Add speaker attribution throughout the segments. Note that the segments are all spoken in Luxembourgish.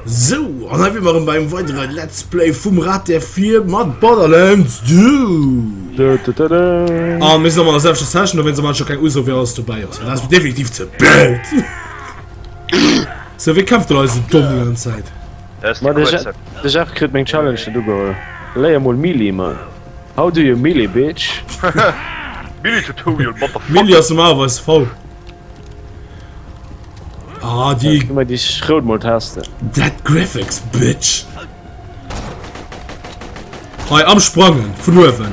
Speaker 1: Sou, an hei wier mer erëm bei engem weidere Let's Play vum Rat der Vier mat Borderlands 2. Dö, dö, dö, dö. Ah, mir sinn an der selwechter Session, da wenn se mal schon keng Uso, wer alles dobäi ass. Well dat ass mir definitiv ze blöd. So, wie kämpft da eise Domm die ganze Zäit? Ma de
Speaker 2: Jeff, de Jeff kritt meng Challenge net ugeholl. Léier mol Melee, Mann. How do you Melee, Bitch?
Speaker 3: Melee Tutorial, Motherfucker. Melee ass normalerweis V.
Speaker 1: Ah, déi. Gi mer déi Schrout mol
Speaker 2: testen. That Graphics,
Speaker 1: Bitch. Hei, am Sprangen, vun uewen.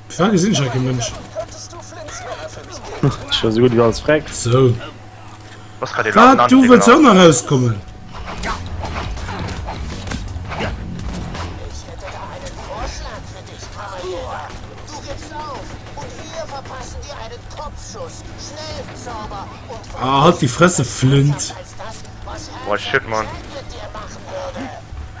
Speaker 4: Fra gesinn ech ke
Speaker 1: Mënsch.
Speaker 4: Ech war sou gutt ewéi alles freckt.
Speaker 2: So.
Speaker 3: Wat, du wëlls och nach
Speaker 1: rauskommen?
Speaker 4: Ah, halt die Fresse,
Speaker 1: Flint!
Speaker 4: Oh shit, Mann.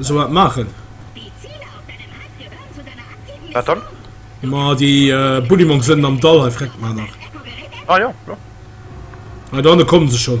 Speaker 5: Sou wat maachen.
Speaker 6: Wat dann? Ma
Speaker 3: déi
Speaker 1: Buddimong sënnen am Dall hei freckt mar nach. Ah jo,
Speaker 3: jo. Hei
Speaker 1: dohanne kommen se schon.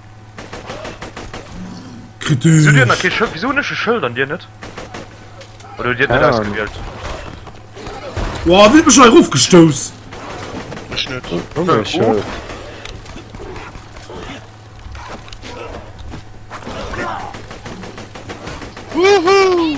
Speaker 1: Kritisch.
Speaker 3: Wieso hun ech e Schëld an dir net? Oder huet dir et net ausgewielt?
Speaker 1: Woah, wien huet mech hei erofgestouss?
Speaker 7: Ech
Speaker 1: net. Woohoo!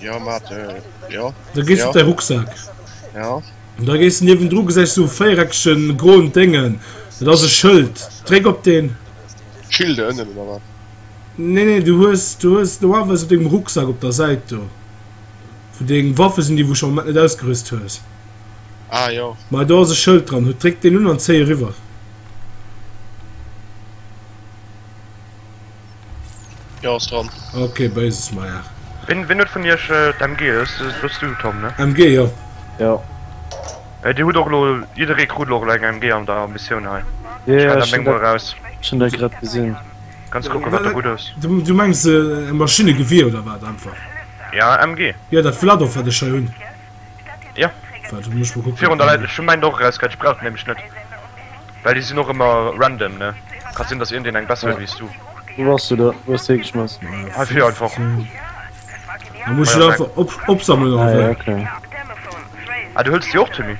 Speaker 1: Ja,
Speaker 7: mat, äh, ja. Da gees ja. op dei
Speaker 1: Rucksack. Ja.
Speaker 7: Und da gees
Speaker 1: niwen dru gesäich so véiereckegen groen Dengen. Dat ass e Schëld. Dréck op den. Schilde ënnen
Speaker 7: oder wat? Nee, nee, du
Speaker 1: hues, du hues normalerweis op dengem Rucksack op der Säit do. Wou deng Waffe sinn, déi wou scho net ausgerüst hues. Ah,
Speaker 7: jo. Ma do ass e Schëld dran.
Speaker 1: Hu dréck deen un an zéi eriwwer.
Speaker 7: Jo ass dran. Ok beises meier.
Speaker 1: Ween ween huet vun iech
Speaker 3: d'MG? Hues de hues du Tom ne? MG jo.
Speaker 1: Jo.
Speaker 2: Ey dir hutt och elo
Speaker 3: jidderee krut elo elo eng MG an der Missioun hei. Jo jo ech hun dat ech hun dat grad gesinn.
Speaker 2: Kanns kucken wat der
Speaker 3: gutt ass. Du mengs
Speaker 1: e Maschinnegewier oder wat einfach? Jo MG.
Speaker 3: Jo dat flatt och wat
Speaker 1: ech hei hunn. Ja.
Speaker 3: Warte, muss ich mal
Speaker 1: gucken. Virun der Leit, ech hu mäin och erausgehäit,
Speaker 3: ech brauch den nämlech net. Well déi sinn och ëmmer random, ne? Ka sinn, datt iergendeen eng besser huet wéi s du. Wou bass du da? Wou
Speaker 2: hues de hie geschmass? Hei vir einfach.
Speaker 1: Da muss ich einfach op opsammeln oder Ah ja, wéi? okay.
Speaker 2: Ah,
Speaker 3: du huels déi och, Tommy?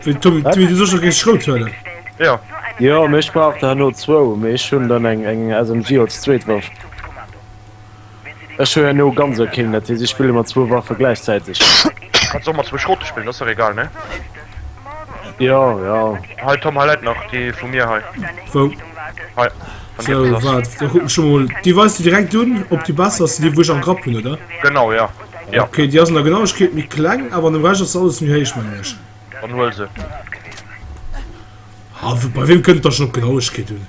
Speaker 3: Wéi
Speaker 1: Tommy, Tommy, du soss jo géif ech rout huelen. Jo.
Speaker 3: Jo, mee ech
Speaker 2: brauch der herno zwou, mee ech hunn dann eng eng SMG als zweet Waff. Ech hu herno ganz ok Killen, dat heescht ech spille mat zwou Waffe gläichzäiteg. Kanns och mat
Speaker 3: zwou Schrote spillen, ass dach egal ne?
Speaker 2: Jo jo. Hei Tom, hei läit nach
Speaker 3: déi vu mir hei. Wou?
Speaker 1: Hei, wann dir
Speaker 3: eppes Sou, ass. waart, da kucken ech
Speaker 1: emol. Déi weis de direkt un, ob déi besser ass wéi déi wou ech am Grapp hunn, oder? Genau, jo.
Speaker 3: Jo. Ok, déi ass an der Genauegkeet
Speaker 1: méi kleng, awer an dem Rescht ass se alles méi héich, mengen ech. Dann huel se. Ha, bei weem kënnt et da schonn op Genauegkeet un?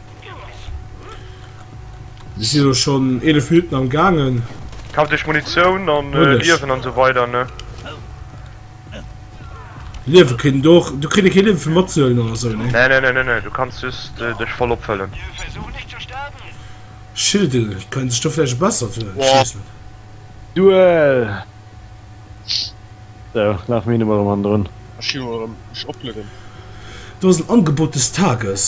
Speaker 1: Mir sinn elo schonn 11 Minutten am gaangen. Kaaft iech
Speaker 3: Munitioun an Liewen an esou weider
Speaker 1: ne. Liewe kritt en do och, do kritt ee kee Liewe fir matzehuelen oder esou ne? Nee nee nee, du kanns
Speaker 3: just dech voll opfëllen.
Speaker 1: Schilden kënnen sech do vläicht e bessert huelen, ech weess net. Duel!
Speaker 2: Sou, laf mir hinne mol erëm hannendrun. Ech gi mol erëm mech
Speaker 7: oplueden. Do ass en
Speaker 1: Angebot des Tages.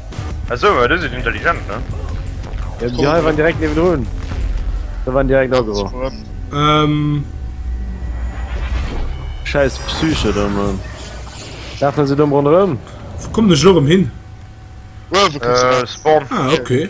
Speaker 1: Achso,
Speaker 3: du si intelligent ne? Ja déi hei
Speaker 2: waren direkt niwen drun. Da waren direkt agro. Ähm.
Speaker 1: Scheiss
Speaker 2: Psyche
Speaker 1: da man. Lafen
Speaker 2: se domm ronderem?
Speaker 1: Wo
Speaker 2: kommen ech lo rem
Speaker 1: hin?
Speaker 2: Uewen. Äh,
Speaker 3: Spawn. Ah, okay.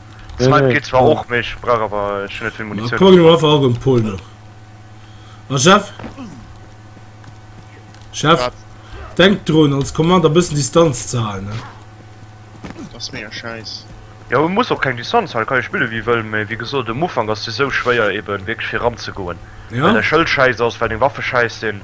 Speaker 3: Snipe geet zwar
Speaker 2: och, mee
Speaker 3: ech
Speaker 2: brauch awer,
Speaker 3: ech hunn net vill Munitioun. Komm elo einfach all beim Pol
Speaker 1: no. A Jeff? Jeff, denk
Speaker 7: drun als
Speaker 1: Command e bëssen Distanz ze halen, ne? Dat
Speaker 7: ass mega schäiss. Jo, e muss och keng
Speaker 3: Distanz halen, e ka jo spille wéi e wëll, mee wéi gesot, um Ufank ass et esou schwéier eben wierklech fir eran ze goen, well däi Schëld schäiss ass,
Speaker 1: well deng
Speaker 3: Waffe schäiss sinn.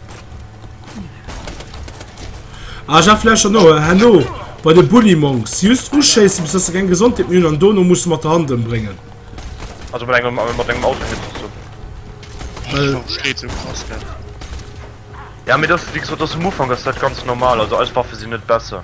Speaker 1: Ah, ja, vielleicht schon noch. Hallo, bei den Bully Monks. Just ausschießen, bis dass sie keine Gesundheit mehr und dann musst du mit der Hand umbringen. Also mit
Speaker 3: einem, mit einem Auto jetzt so. Weil, das steht
Speaker 7: so krass, gell?
Speaker 3: Ja, mir das, wie gesagt, das am Anfang, das ist halt ganz normal. Also, als Waffe sind nicht besser.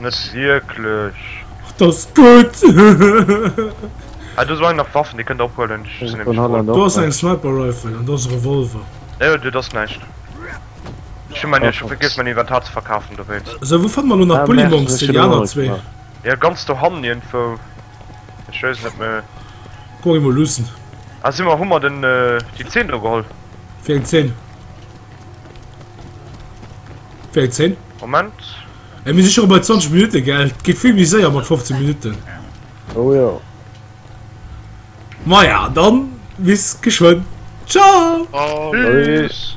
Speaker 3: Net wierklech. Och dat ass
Speaker 1: gutt!
Speaker 3: Hei, do ass och eng nach Waffen, déi kënnt der ophuelen. Ech sinn nämlech froen. Do ass
Speaker 1: eng Sniper Rifle an do ass e Revolver. Jo, jo, dat ass näischt.
Speaker 3: Ech hu mäin, ech hu vergiess mäin Inventar ze verkafen dowéinst. Esou, wou fanne mer elo nach
Speaker 1: Bullimonks fir déi aner zwee? Jo, ganz
Speaker 3: dohannen iergendwou. Ech weess net méi. Kuck emol
Speaker 1: luussen. Ah, si mer, hu mer
Speaker 3: den, déi Zeen do geholl? Wéi eng Zeen? Wéi 10? Moment. Ey,
Speaker 1: mir si scho bei 20 Minutte, gell? Et geet vill méi séier mat 15 Minutten. Oh jo. Maja, dann bis
Speaker 3: geschwënn.
Speaker 1: Ciao! Tschüss!